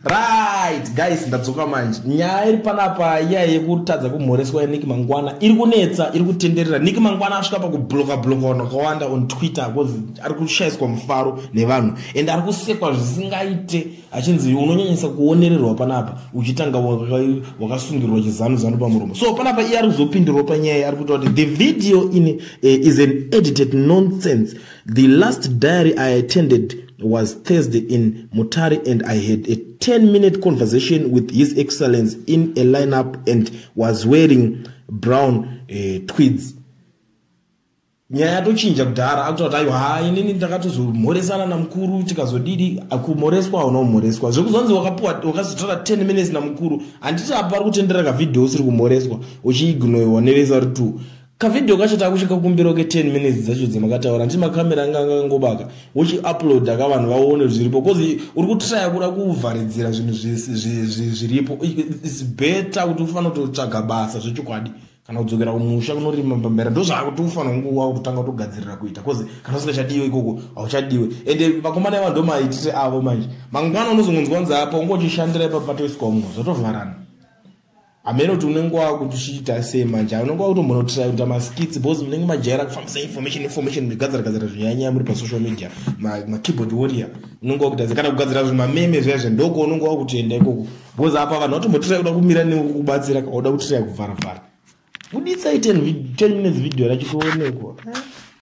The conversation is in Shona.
right guys ndadzoka manje nyaya iri panapa iya yekutadza kumhoreswa yaniki mangwana iri kunetsa iri kutenderera niki mangwana asvika pakubloka bloka vanhu vakawanda on twitter bcause ari kushayiswa mufaro nevanhu and ari kusekwa zvisingaite achinzi unonyanyisa kuonererwa panapa uchitanga wakasungirwa chizanu zanu pamuromo so panapa iye ari kuzopindirwa panyaya ari kuita kuti the video in uh, is an edited nonsense the last diary i attended was Thursday in Mutare and I had a 10 minute conversation with His Excellence in a lineup and was wearing brown uh, tweeds. nyaya yatochinja kudhara akuta kuti aiwa haa inini ndakatozomhoresana namukuru tikazodidi kumhoreswa hauna kumhoreswa zvekuzonzi wakapuwa wakazotora 10 minutes namukuru handiti apa ari kutendera kavhidhio usiri kumhoreswa uchiignoiwa nevesa ri two kavideo kacho takusvika kumbiro ke 10 minutes dzacho dzemakataura nditi makamera anga angangobaka uchiuploada ka vanhu vaone zviripo bcause uri kutraya kuda kuvharidzira zvinhu zviripo its better kuti ufanira kutotsvaga basa zvechokwadi kana kudzokera kumusha kunorima pambera ndozvakuti ufanira kunguva kutotanga kutogadzirira kuita bcause kana usingachadiwe ikoko hauchadiwe ende vakomana iva ndomaitire avo manje mangwana unozongonzwa nzi apa ungotishandira ipapatoiswa mumwe zvatovharana hameno kuti unenge wakuchiita sei manje unenge wakutombonotisaita maskits because munenge majaira kufambisa information information migadzira gadzira zvinyanyaya muri pasocal media makeyboard warrior unenge wakutadza kana kugadzira zvimameme zviya zve ndoko unenge wakutoenda ikoko because apa vanhu vatombotirai kuda kumira nekukubatsira kauda kutirai kuvharavhara buditsai 10 minutes video racho toonekwa